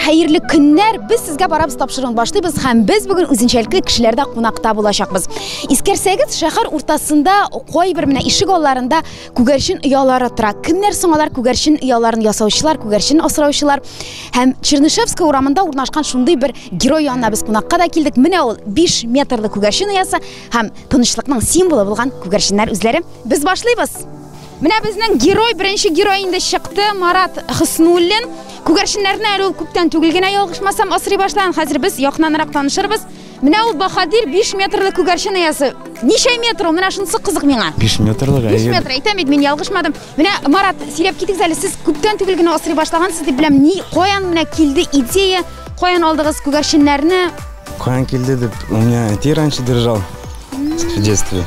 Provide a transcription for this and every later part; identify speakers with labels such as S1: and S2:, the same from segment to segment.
S1: Хәерле көннәр! Без сезгә барабыз тапшыруын башлыйбыз һәм без бүген үзенчәлекле кешеләрдә кунакта булачакбыз. Искәрсәгез, шәһәр уртасында кайбер менә ишек алларында күгәрчен оялары тора. Кемнәр соң алар күгәрчен ояларын ясаучылар, күгәрчен асраучылар? Һәм Чернышевская урамында урнашкан шундый бер герой янына без кунакка да килдек. Менә ул 5 метрлы күгәрчен оясы һәм тынычлыкның символы булган күгәрченнәр үзләре. Без башлыйбыз! Менә безнең герой, беренче герой инде чыкты, Марат Хөснуллин. Күгәрченнәрне әле ул күптән түгел генә ялгышмасам асрый башлаган. Хәзер без якыннанрак танышырбыз. Менә ул баһадир 5 метрлы күгәрчен иясе. Ничә метр ул? Менә шунысы кызык миңа. 5 метрлы. 5 метр.
S2: Әйтәм бит, мин
S1: ялгышмадым. Менә Марат, сөйләп китегез әле, сез күптән түгел генә асрый башлагансыз дип беләм. Ни, каян менә килде идея? Каян алдыгыз күгәрченнәрне? Каян килде
S2: дип, у меня әти раньше держал в детстве.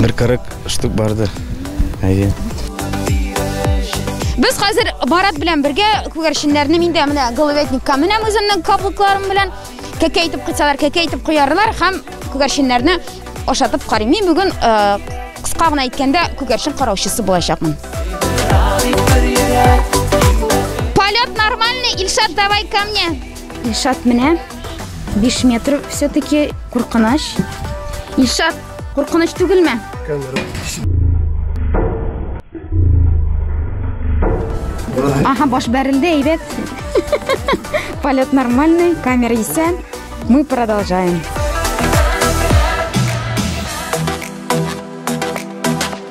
S2: Бер 40 штук бардыр. Әйе.
S1: Без хәзер Барат белән бергә күгәрченнәрне миндә менә головетникка менәм үземнең каблыкларым белән. Кәкә итеп кыйсалар, кәкә итеп куярлар һәм күгәрченнәрне ашатып карыйм. Мин бүген э, кыска гына әйткәндә күгәрчен караучысы булачакмын. Полет нормальный, Ильшат, давай ко мне. Ильшат менә 5 метр все-таки куркыныч. Ильшат, куркыныч түгелме? Ага, баш бәрелде, әйбәт. Полет нормальный, камера исән. Мы продолжаем.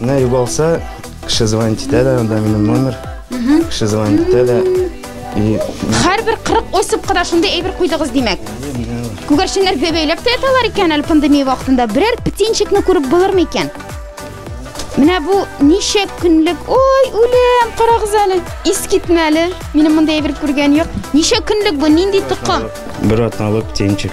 S1: Менә югалса,
S2: кеше звонить итә дә, анда минем номер. Кеше звонить итә дә. И
S1: Һәрбер 40 осыпка да шундый әйбер куйдыгыз, димәк. Күгәрченнәр бе- бәйләп тә яталар икән әле пандемия вакытында. Берәр птенчикны күреп булырмы икән? Менә бу ничә көнлек? Ой, үлем, карагыз әле. Ис китмәле. Минем монда әйбер күргән юк. Ничә көнлек бу? Нинди токым? бер атналык
S2: птенчик.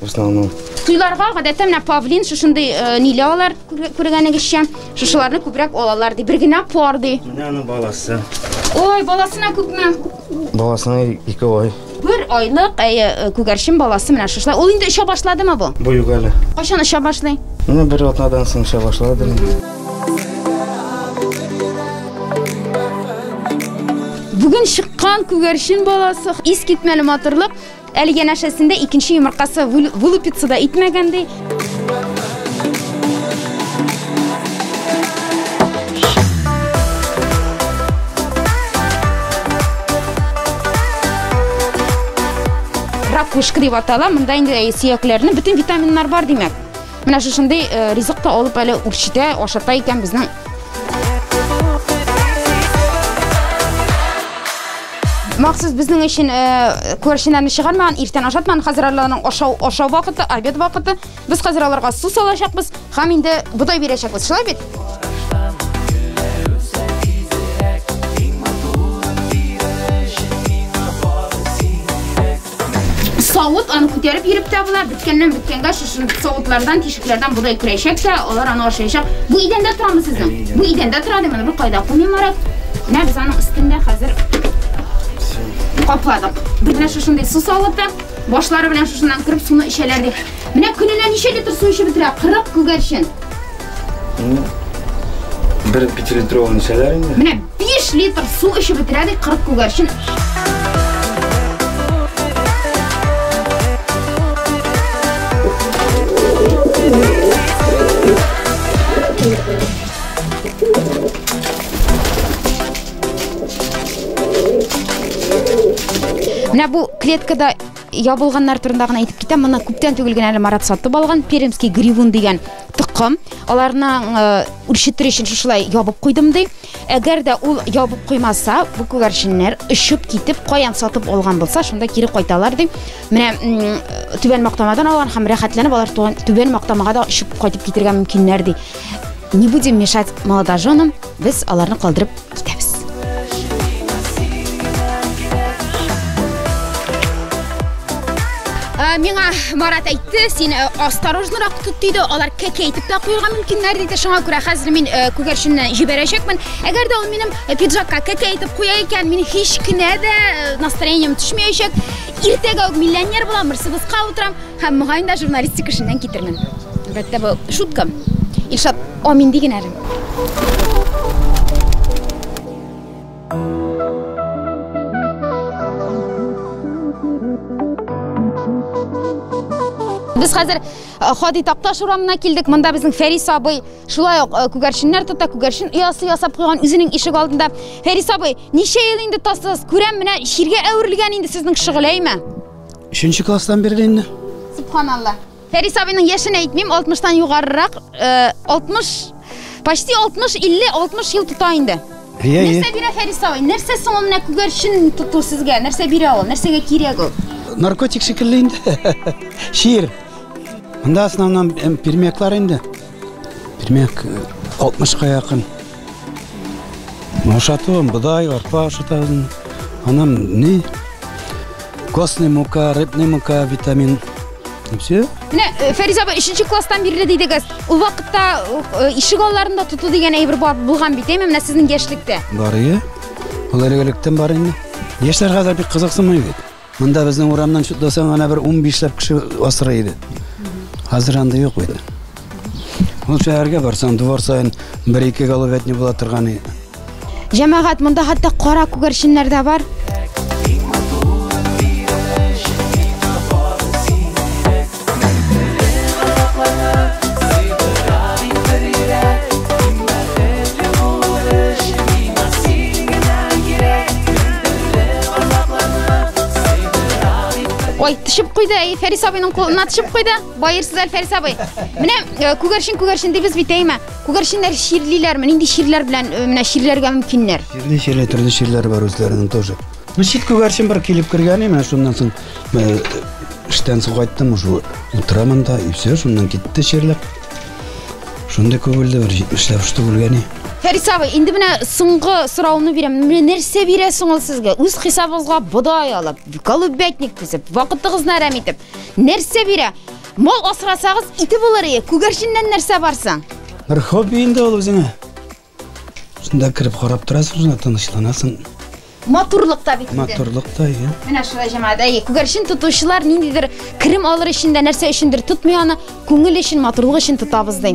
S2: В основном. Туйларга гадәттә
S1: менә павлин шушындый э, ниле алар күргәнегезчә. Шушыларны күбрәк алалар ди. Бер генә пар ди. Менә аны
S2: баласы. Ой, баласына
S1: күпме? Баласына
S2: ике ай. Бер айлык
S1: әйе э, күгәрчен баласы менә шушылар. Ул инде оча башладымы бу? Бу юк әле. Кайчан
S2: оча башлый?
S1: Менә бер атнадан
S2: соң оча башлады.
S1: Бүген чыккан күгәрчен баласы искитмәле матурлык. Әле янәшәсендә икенче йомыркасы вылупиться да итмәгән, ди. Ракушка дип атала, монда инде сөякләрнең бөтен витаминнар бар, димәк. Менә шушындый э, ризык та алып әле үрчетә, ашата икән безнең Махсус безнең өчен э, күршеләрне чыгармаган, иртән ашатман, хәзер аларның ашау ашау вакыты, обед вакыты. Без хәзер аларга су салачакбыз һәм инде бодай бирәчәкбез. Шулай бит? савыт аны күтәреп йөреп тә була беткәннән беткәнгә шушы савытлардан тишекләрдән бодай күрәчәк тә алар аны ашаячак бу идәндә торамы сезнең бу идәндә тора дим аны бер кайда куймыйм марат менә без аның өстендә хәзер капладык без менә шушындый су савыты башлары белән шушыннан кереп суны эчәләр дип менә көненә ничә литр су эчеп бетерә кырык күгәрчен Инде
S2: бер пятилитровый ничәләр инде? Менә 5 литр
S1: су эчеп бетерә ди 40 күгәрчен. Менә бу клеткада Ябылганнар турында гына әйтеп китәм, моны күптән түгел генә әле Марат сатып алган, пермский гривун дигән токым. Аларны үрчетер өчен шушылай ябып куйдым ди. Әгәр дә ул ябып куймаса, бу күгәрченнәр очып китеп, каян сатып алган булса, шунда кире кайталар ди. Менә түбән мактамадан алган һәм рәхәтләнеп алар түбән мактамага да очып кайтып китергә мөмкиннәр ди. Не будем мешать молодоженам. Без аларны калдырып китәбез. Ә, миңа Марат әйтте, син ә, осторожнырак тот диде, алар кәкә итеп тә куелга мөмкиннәр диде, шуңа күрә хәзер мин ә, күгәрченне җибәрәчәкмен. Әгәр дә ул минем ә, пиджакка кәкә итеп куя икән, мин һич кенә дә ә, настроением төшмәячәк. Иртәгә үк миллионер булам, Мерседеска утырам һәм мөгаен дә журналистик эшеннән китермен. Әлбәттә, бу шутка. Илшат, амин ди генә Без хәзер Хади Такташ урамына килдек. Монда безнең Фәрис абый шулай ук күгәрченнәр тота, күгәрчен оясы ясап куйган үзенең ишек алдында. Фәрис абый, ничә ел инде тасыз? Күрәм, менә чиргә әверелгән инде сезнең шөгыләйме? Өченче
S3: класстан бирле инде. Субханалла.
S1: Фәрис абыйның яшен әйтмим, 60-тан югарырак, 60, почти 60, 50, 60 ел тота инде. Ие, ие. Нәрсә бирә Фәрис абый? Нәрсә соң ул менә күгәрчен тоту сезгә? Нәрсә бирә ул? Нәрсәгә кирәк ул? Наркотик шикелле
S3: инде. Шир. Монда основном пермяклар инде. Пермяк 60-ка якын. Ашатуым бодай, арпа ашатам. Анам ни? Костный мука, рыбный мука, витамин. И все. Менә э, Фәризә апа
S1: 3 класстан бирле дидегез. Ул вакытта э, ишек алларында тоту дигән әйбер бар булган бит, әйме? Менә сезнең яшьлектә. Бар ие.
S3: Ул элегелектән бар инде. Яшьләр хәзер бик кызыксынмый бит. Монда безнең урамнан чутласаң гына бер унбишләп кеше асрый иде. Хәзер анда юк бит. Ул шәһәргә барсаң, двор саен бер-ике головятни була торган иде. Җәмәгать,
S1: монда хәтта кара күгәрченнәр дә бар. Ой, тишеп куйды, әй, Фәрис абыйның кулына тишеп куйды. Баерсызлар, Фәрис абый. Менә э, күгәрчен, күгәрчен дибез бит, әйме? Күгәрченнәр чирлиләрме? Нинди чирләр белән э, менә чирләргә мөмкиннәр? Чирли, чирли, төрле чирләр
S3: бар үзләренең тоже. Ну, чит күгәрчен бер килеп кергән, менә шуннан соң э, эштән соң кайттым, шул утырам анда, и все, шуннан китте чирләп. Шундый күгелде бер 70 штук үлгәне. Фәрис абый, инде
S1: менә соңгы сорауны бирәм. Менә нәрсә бирәсең ул сезгә? Үз хисабыгызга бодай алып, голубятник төзеп, вакытыгызны әрәм итеп. Нәрсә бирә? Мал асрасагыз, ите булыр ие. Күгәрченнән нәрсә барсың? Бер хобби
S3: инде ул үзеңә. Шунда кереп карап торасың, шунда тынычланасың. Матурлык
S1: та бит инде. Матурлык та, иә. Менә
S3: шулай җәмәгать. Әйе,
S1: күгәрчен тотучылар ниндидер керем алыр өчен дә нәрсә өчендер тотмый аны, күңел өчен, матурлык өчен тотабыз ди.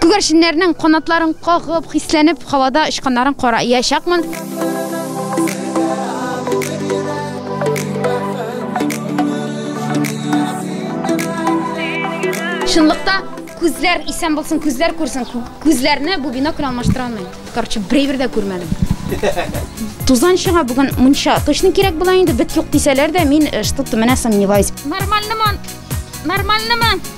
S1: Күгәрченнәрнең канатларын кагып, хисләнеп, һавада очканнарын кара иячакмын. Чынлыкта күзләр исән булсын, күзләр күрсен. Күзләрне бу бинокль алмаштыра алмый. Короче, берәйбер дә күрмәдем. Тузан чыга бүген мунча. Точно кирәк була инде, бит юк дисәләр дә, мин э, что-то менә сомневаюсь. Нормальнымы? Нормальнымы?